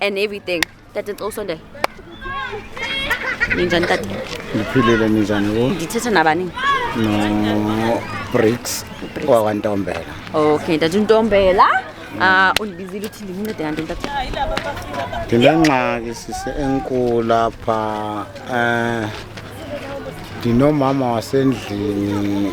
and everything tata ngicela usondele ninjani tata ngiphilile ninjani wo ngithetha nabani no bricks Bricks. wakwantombela okay tata untombela ah undibizile uthi ndimncede kanti tata ndinengxaki sise enkulu lapha um ndinomama wasendlini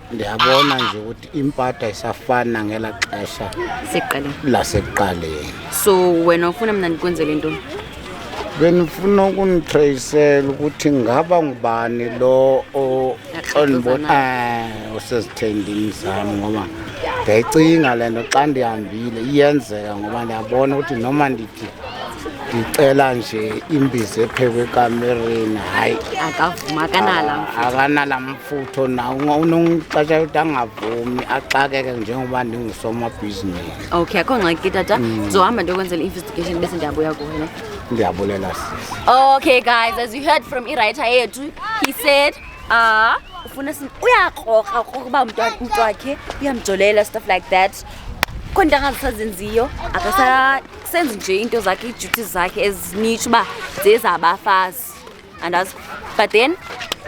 ndiyabona nje ukuthi impatha isafana ngela xesha sekuqaleni lasekuqaleni so wena ufuna mna ndikwenzele ntoni benifuna ukunitrayisela ukuthi ngaba ngubani lo osezithendini eh, zam ngoba ndiyayicinga le nto xa ndihambile iyenzeka ngoba ndiyabona ukuthi noma ndithi ndicela nje imbizi ephekwe ekamereni hayi akavuma akanala ah, futho nawo unoxesha ukuthi angavumi axakeke njengoba ndingusomabhizinisi okay akho ngxaki ke tata mm. ndizohamba ndiyokwenzela i-investigation bese ndiyabuya kuwe ne ndiyabulela sisi okay guys as you heard from iwriter yethu he said ah uh, ufuna uyakroka kokuba umntu wakhe uyamjolela stuff like that khona into angazisazenziyo akasasenzi nje into zakhe ii-duties zakhe ezinitsho uba zezabafazi andazi but then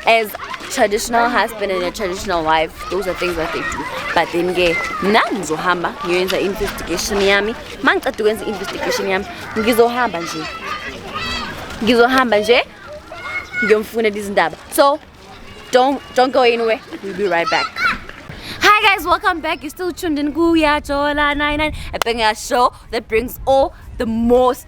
as traditional husband and a traditional wife those are things that they do but then ke mna ngizohamba ngiyoyenza i-investigation yami ma ngiceda ukwenza i-investigation yami ngizohamba nje ngizohamba nje ngiyomfunela izindaba so don't, don't go anywhere we'll be right back Hi guys, welcome back. You're still tuned in Kuya Jola 99 a banger show that brings all the most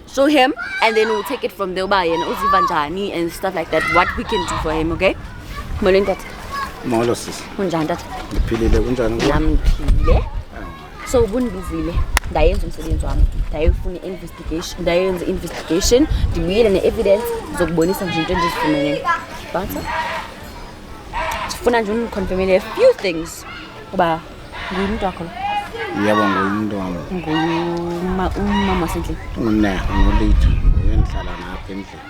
show him and then we'll take it from there uba yena uziva njani and stuff like that what we can do for him okay molweni tata molo sisi unjani tata ngiphilile kunjani kuwe? nam ndiphile so ubundibizile ndayenza umsebenzi wami ndayefuna i-investigation ndayenza i-investigation ndibuyele ne-evidence zokubonisa nje into endizifumeneyo bantsa ndifuna nje undiconfirmele a few things uba Ngumntu wakho lo. Yebo ngumntu wami. Nguma umama wasendlini. Ngune ngolithu uyenhlala ngapha endlini.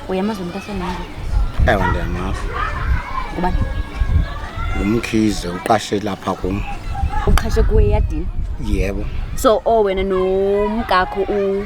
Uyamazi umuntu asenami. Ewe ndiyamazi. Ngubani? Ngumkhize uqashe lapha kum. Uqhashe kuwe yadini? Yebo. So o wena nomkakho u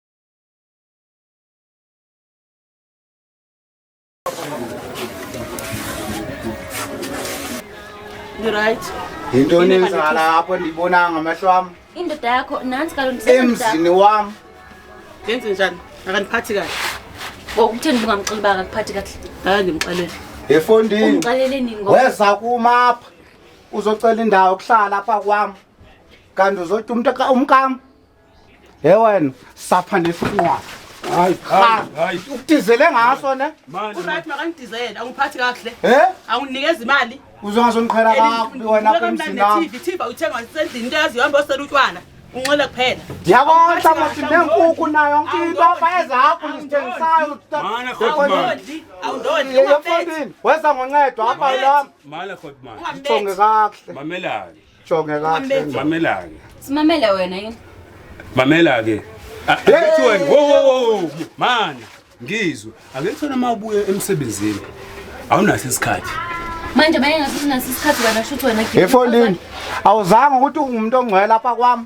Right. Yintoni enzala apho ndibonanga amehlo wam? Indoda yakho nansi kaloku ndisebenza. Emzini wam. Ngenze njani? Akandiphathi kahle. Ngokutheni ungamxeleli baka kuphathi kahle? Hayi ndimxelele. Efondini. Umxeleleni ngoba. Weza kumapha. Uzocela indawo kuhlala apha kwam. Kanti uzothi umntu umkam He wena sapha nesinqwa. Hayi, hayi, hayi. Ukudizele ngaso ne? Manje. Unathi makangidizele, awungiphathi kahle. He? Awunginikeza imali. Uzongazongiqhela kabi wena apha emzini wami. TV, TV uthenga isendlini into yazi uhamba osela utshwala. Unxele kuphela. Ndiyabona manje nenkukhu nayo yonke into apha ezakho ngizithengisayo. Mana Awundodli, awundodli. Yeyefondini, weza ngoncedo apha lami. Mala Godman. Ungambeki. Uthonge kakuhle. Mamelani. Jonge kahle. Mamelanga. Simamele wena yini? Mamela ke. Akethi wena. Wo wo wo. Man, ngizwe. Akethi wena mawubuye emsebenzini. Awunaso isikhathi. Manje mayengathi unaso isikhathi wena shuthi wena. Efondini. Awuzange ukuthi ungumuntu ongcwele lapha kwami.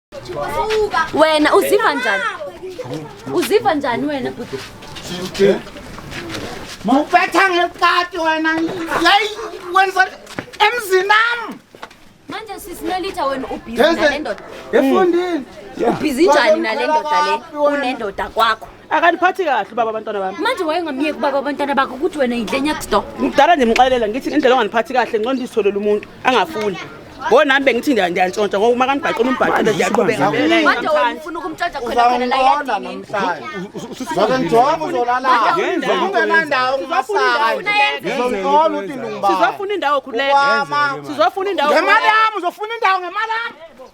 wena uziva njani uziva njani wena bhuti mawubetha ngeqati wena yayi wenza emzinami manje sisinolitha wena ubhizi Yes, nale ndoda efondini ubhizi njani nale ndoda le unendoda kwakho akaniphathi kahle ubaba abantwana bami manje wayengamyeki ubaba abantwana bakho ukuthi wena yidlenyakdo ngidala nje mxelela ngithi indlela onganiphathi kahle ncono ndizitholele umuntu angafuni ngo nami bengithi ndiyantshontsha ngoba uma kanibhaqela umbhaqele ndiyaqhubeka sizofuna indawo khululeka sizofuna indawo ngemali yami uzofuna indawo ngemali yami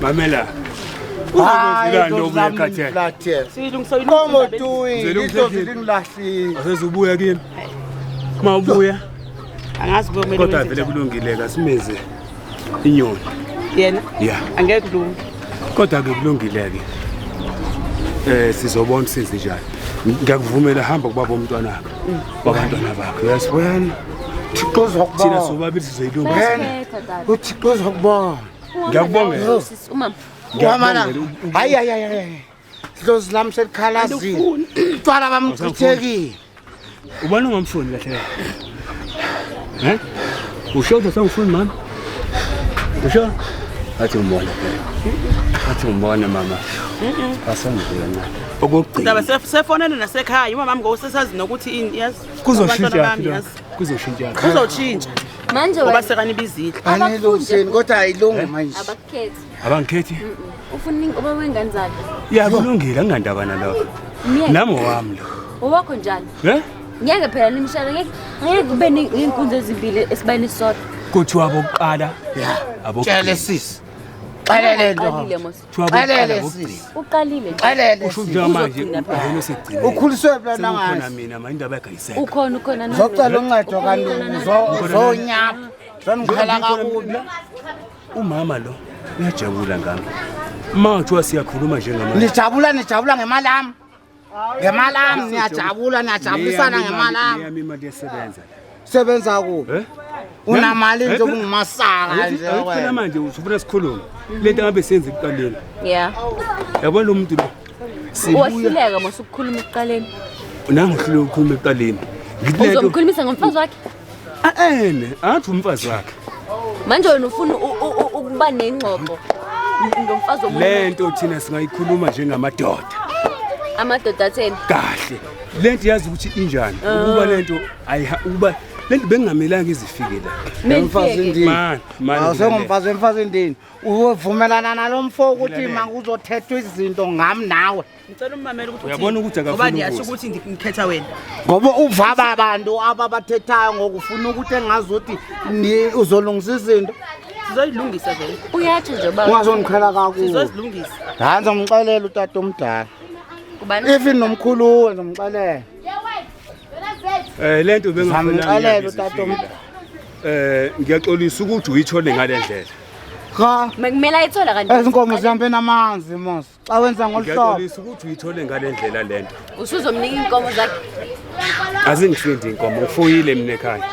Mamela. Uzobuya kimi. Uma ubuya. Angazi kumele. Kodwa vele kulungile kasimeze inyoni. Yena? Yeah. Angeke kulunge. Kodwa ke kulungile ke. Eh sizobona senze njani. Ngiyakuvumela hamba kubaba omntwana wakho. Babantwana bakho. Yes, wena. thixo uzokubona sobabili sizoyilunga uthixo uzokubona ngiyakubongela umama wamana hayi hayi hayi dlozi lami selikhalazile utshwala bamchithekile ubona ungamfuni kahle kahle usho ukuthi sengifuni mama usho athi umbona athi umbona mama asangizwe kancane okugcina sefonele nasekhaya umama wami ngosesazi nokuthi ini yazi kuzoshintsha kuzoshintsha kuzoshintsha manje ngoba sekanibizile anilungiseni kodwa ayilungi eh? manje abakukhethi abangikhethi ufuna uba wengane zakhe ya kulungile angandaba nalokho nami owami lo owakho njani eh ngeke phela nimshana ngeke ngeke kube neenkunzi ezimbili esibayeni sodwa kuthiwa abokuqala abokuqala sisi xelele nto Xelele sisi. Uqalile. Xelele. Usho ukuthi manje ubona segcine. Ukhuliswe phela nangazi. Ukhona mina manje indaba yakayiseka. Ukhona ukhona nami. Zocela uncedo kanti zonyapha. Zangikhela kakubi. Umama lo uyajabula ngami. Uma kuthiwa siyakhuluma njengamanje. Nijabula nijabula ngemali yami. Ngemali yami niyajabula niyajabulisana ngemali yami. Yami imali yesebenza. Sebenza kuphi? Eh? Unamali nje kungumasaka nje Awuthina wena. manje usufuna sikhulume. Lento ngabe senze ekuqaleni. Yeah. Yabona lo muntu lo. Sibuya Wahluleka mose ukukhuluma ekuqaleni. nangu hlule ukukhuluma ekuqaleni. Ngithi lento- Uzomkhulumisa ngomfazi wakhe? aene athi umfazi wakhe manje wena ufuna ukuba nengxoxo ngomfazi omunye le nto thina singayikhuluma njengamadoda amadoda atheni kahle le nto yazi ukuthi injani ah. ukuba le nto ukuba le nto bengingamelanga izifike la mfazi ndini awusengumfazi wemfazi ndini uvumelana nalo mfo ukuthi ma kuzothethwa izinto ngami nawe ngicela ummamela ukuthi uyabona ukuthi akafuni ngoba ndiyasho ukuthi ngikhetha wena ngoba uvaba abantu ababathethayo ngokufuna ukuthi engazi ukuthi uzolungisa izinto sizoyilungisa vele uyathi nje baba ungazongiqhela kakubi sizozilungisa hayi ngizomxelela utata omdala kubani even nomkhuluwe ngizomxelela eh lento bengizomxelela utata omdala eh ngiyaxolisa ukuthi uyithole ngalendlela cha mekumela ayithola kanti ezinkomo zihambe namanzi mos xa wenza ngolu hlobo Ngiyaxolisa ukuthi uyithole ngale ndlela le nto. usuzomnika iinkomo zakhe Azingihlindi inkomo, ngifuyile mina ekhaya.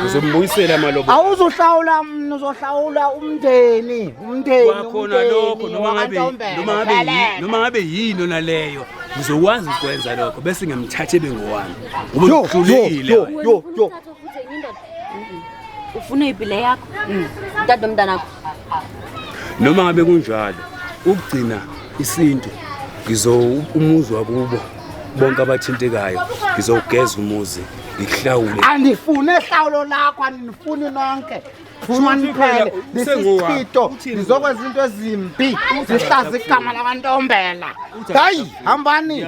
Ngizombuyisela amalobo. awuzuhlawula mna uzohlawula umndeni umndeni Kwakhona lokho umndeni noma ngabe wakwaNtombela. noma ngabe yi- Baleka. noma ngabe yini ona leyo ngizokwazi ukwenza lokho bese ngiyamthatha ebe ngowami. Ngoba Yo, yo, uhlulekile yo, wena. yo, yo. ufuna ipile yakho dade omntanakho noma ngabe kunjalo ukugcina isintu ngizo umuzi wakubo bonke abathintekayo ngizogeza umuzi ngihlawule andifune hlawulo lakho andinifuni nonke funaniphele lisichito ndizokwenza into ezimbi zihlaza igama lakantombela hayi hambani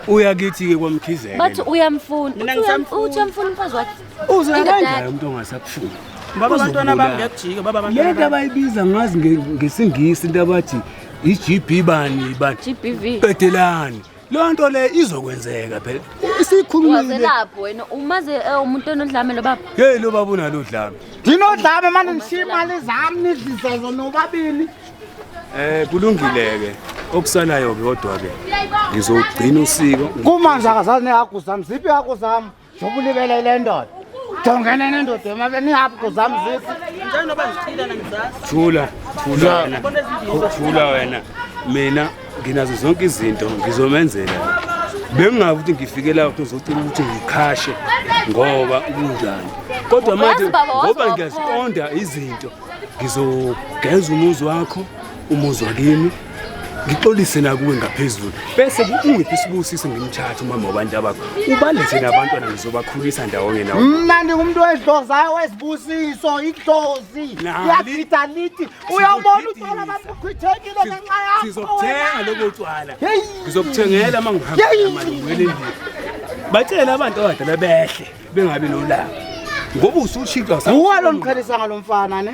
uya kithi-ke kwamkhizela bathi uyamfuna uthi uyamfuna umfazi wakhe Uze kanjani umuntu ongasakufuni? Baba abantwana bami ngiyakujika baba abantwana. Lento abayibiza ngazi ngesingisi into abathi i-GB bani bani. GBV. Qedelani. Leyo nto le izokwenzeka phela. Isikhulumile. Waze lapho wena umaze eh, umuntu onodlame lo baba. Hey lo baba unalo dlame. Ndinodlame manje ngishiya imali zami nidlise zona ubabili. Eh kulungile ke. Okusalayo ke kodwa ke ngizogcina usiko. Kumanje akazazi nehagu zami. Ziphi ihagu zami? Jobulibele le ndoda. Jongene nendoda emabe nihaphi kuzami zisi. Njalo noba ngiphila nangizasi. Thula, thula wena. Thula wena. Mina nginazo zonke izinto ngizomenzela. Bengingazi ukuthi ngifikela ukuthi uzocela ukuthi ngikhashe ngoba kunjani. Kodwa manje ngoba ngiyaziqonda izinto ngizogeza umuzi wakho umuzi wakini ngixolise nakuwe ngaphezulu bese ungiphi sibusise ngimthathe umama wabantu abakho ubalethe nabantwana ngizobakhulisa ndawonye nawo mna ndingumntu wedlozayo wesibusiso idlozi yadida lithi uyawubona utwala babukhwithekile ngenxa yakho sizokuthenga lobo tywala ngizokuthengela uma ngihamba namali ngibuyele endlini batshele abantu abadala behle bengabi nolaka ngoba usushintshwa uwalo mqhelisa ngalo mfana ne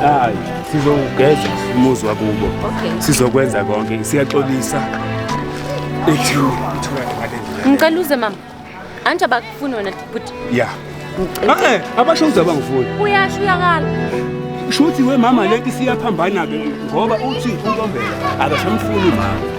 hayi sizowugeza umuzi wakubo sizokwenza konke siyaxolisa ngicela uze mama anti abakufuni wena bhuti ya eh, abasho uze abangifuni uyasho uyakala shuthi we mama leti siyaphambana-ke ngoba uthi untombela akasamfuni mama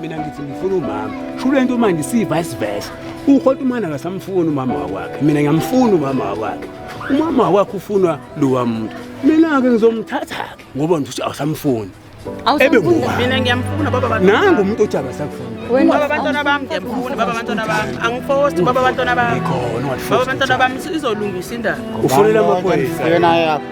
mina ngithi ngifuna umama shule nto manje si-vice versa ukhota umana kasamfuni umama wakwakhe mina ngiyamfuna umama wakwakhe umama wakwakhe ufunwa lowa muntu mina-ke ngizomthatha-ke ngoba ngithi awusamfuni ebe mina ngiyamfuna baba bantwana nangu umuntu othi akasakufuni baba abantwana bami ngiyamfuna baba abantwana bami angifosti baba abantwana bami baba abantwana bami izolungisa indaba ufunela amaphoyisa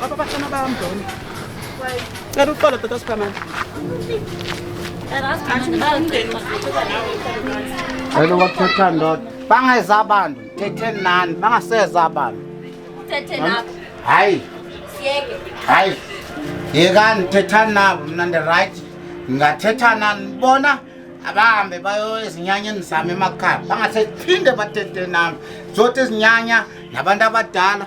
Baba bashana bayamdona. Cela uqala tata Superman. Hello wathetha ndoda. Bangeza abantu, thetheni nani, bangaseza abantu. Uthethe lapho. Hayi, Siyeke. hayi. Yekani thethani nabo mina ndi right. Ngingathetha nani bona abahambe bayo ezinyanyeni zami emakhaya. Bangasephinde bathethe nami. Zothi izinyanya nabantu abadala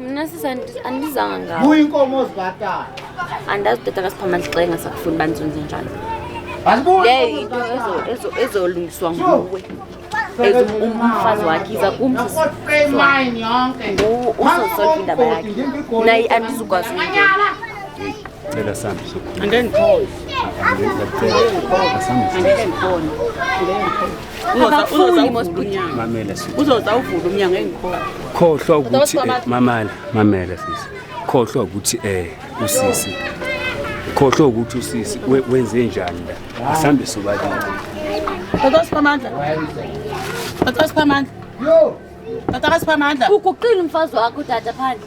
Mna sisi andizanga ngawo. Buya inkomo ozibhatala. Andazi tata kasiphamandla xa engasakufuni banzunze njalo. Asibuye. Into ezo ezo ezolungiswa nguwe. Ezo umfazi wakhe iza kumzi. Mine yonke. Uzosolve indaba yakhe. Nayi andizukwazi ukuyela. Cela sami sokhona. Angeke ngikhona. Angeke ngikhona. Angeke ngikhona. uzoza uvula umnyango engikhona khohlwa ukuthi eh, mamala mamela sisi khohlwa ukuthi eh usisi khohlwa ukuthi usisi wenze njani la asambe sobabili Tata Siphamandla. Tata Siphamandla. Yo. Tata Siphamandla. Uguqile umfazi wakho dada phandle.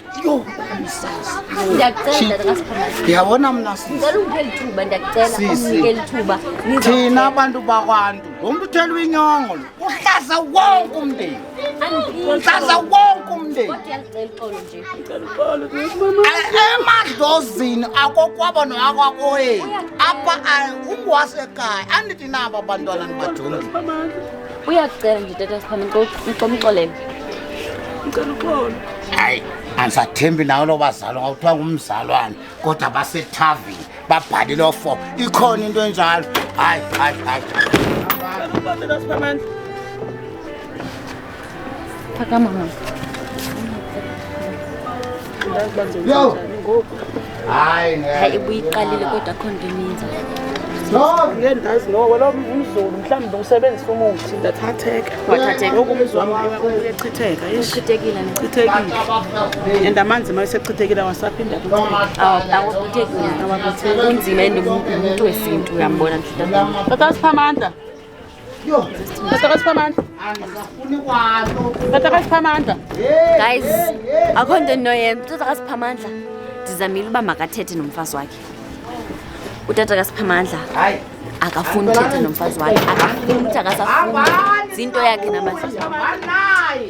Yo, msazi. Ngiyacela tata kaSiphamandla. Ngiyabona mna sisi. Ngicela ungiphele ithuba ndiyacela Sisi. unginikele ithuba. Thina abantu bakwantu, ngomntu uthela uyinyongo lo. Uhlaza wonke umndeni. Uhlaza wonke umndeni. Kodwa uyalixela ixolo nje. A- Emadlozini akokwabo noakwakoyeni. Apha a- ungwasekhaya andithi naba bantwana nibajonge. uyakucela nje tata siphame ngicela umxolele ngicela uxolo hayi andisathembi nawo lo bazalo ngawuthiwa ngumzalwane kodwa basethavini babhalile ofo ikhona into enjalo hayi hayi hayi phakama mama Yo. Hayi ngeke. Hayi ibuyiqalile kodwa akho nto eninzi. Ngeke ndazi noko lo mzulu mhlawumbe usebenzisa umuthi ndathatheka. Wathatheka. Ngoku umzwa wami uyachitheka. Eish. Chithekile ne. Chithekile. And amanzi uma esechithekile awasaphinda kutheka. Awu akuthekile. Kunzima and umuntu wesintu uyambona nje. Tata siphamanda. Yo, Tataka Siphamandla. Angisafuni kwanto. Tataka Siphamandla. Guys, akho nto endinoyenza. Utata kaSiphamandla ndizamile uba makathethe nomfazi wakhe. Utata kaSiphamandla Hayi. akafuni uthetha nomfazi wakhe. Akafuni ukuthi akasafuni. Ziinto yakhe namandla. Hambani naye.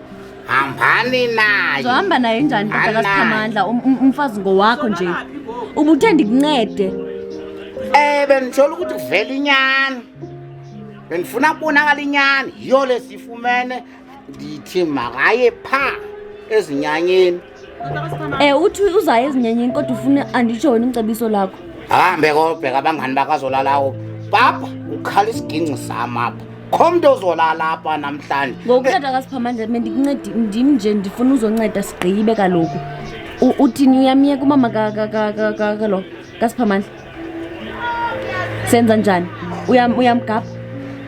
hambani naye zohamba naye njani Hambani naye. katakasiphamandla um, um, umfazi ngowakho nje ubuthe ndikuncede um bendithola ukuthi kuvela inyani bendifuna kubonakala inyani yiyo lesifumene ndithi makaye phaa ezinyanyeni Eh uthi uzayo ezinyenyini kodwa ufuna andijoyine umcebiso lakho. Ahambe kobheka abangani bakazolalawo. Papa ukhala isiginci sami apha. Khomntu ozolala apha namhlanje. Ngokuthatha kaSiphamandla mina ndikuncedi ndim nje ndifuna uzonceda sigqibe kaloku. U- Uthini uyamyeka umama ka ka ka ka ka lo kaSiphamandla? senza njani uyamgabha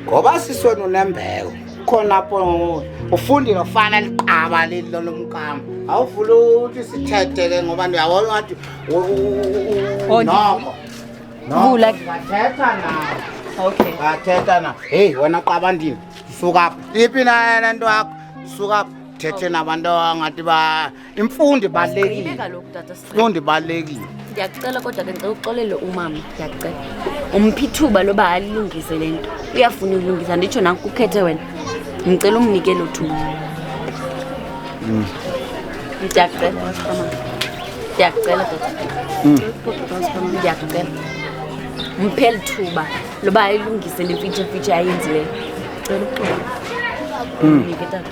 ngoba siswena unembeko khona apho ufundile ufana liqaba leli lolomkama awuvula ukuthi sithethe ke ngoba ndiyabona ngathi oh, noko vula bathetha na okay bathetha na heyi wena qaba ndini suka phi iphi na yena nto yakho suka phi thethe nabantu angathi ba imfundo ibalulekile imfundo ibalulekile ndiyakucela kodwa ke ngicela uxolele umama ndiyakucela umphi ithuba loba alilungise le nto uyafuna ulungisa nditsho nanku kukhethe wena ngicela umnike lo thuba mm. ndiyakucela ndiyakucela dada mm. ndiyakucela mpheli thuba loba ayilungise le mfitshemfitshe ayenzileyo cela uxolo mm.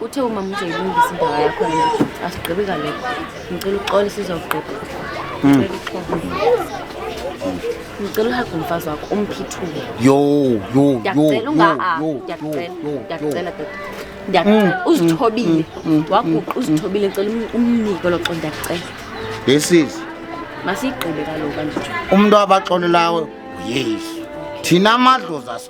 Uthe uma mzoyilungisa indawo yakho asigqibi kale. Ngicela uxole sizogqiba. Hmm. Ngicela uhaga umfazi wakho umphithule. Yo yo yo. Ngiyacela dad. Ngiyacela hmm. uzithobile. Hmm. Waguqa uzithobile ngicela um-, umnike lo xo ngiyacela. Yesis. Masigqibe kaloku kanjalo. Umuntu abaxolelayo uYesu. Thina amadlozi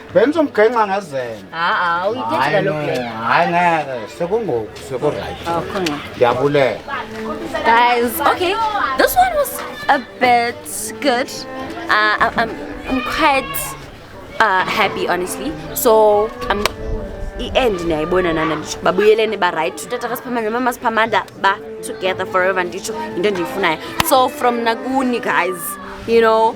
Benza umghenxa ngezela. Haa, uyithethe kaloku le. Hayi ngeke, sekungoku, sekuright. Akho ngxaki. Ndiyabulela. Guys, okay, this one was a bit good. Uh, I- I'm, I'm quite uh, happy, honestly. So, I'm i-end niyayibona nana nditsho babuyelene barayight utata kasiphamandla nomama siphamandla ba together forever nditsho yinto endiyifunayo so from nakuni guys you know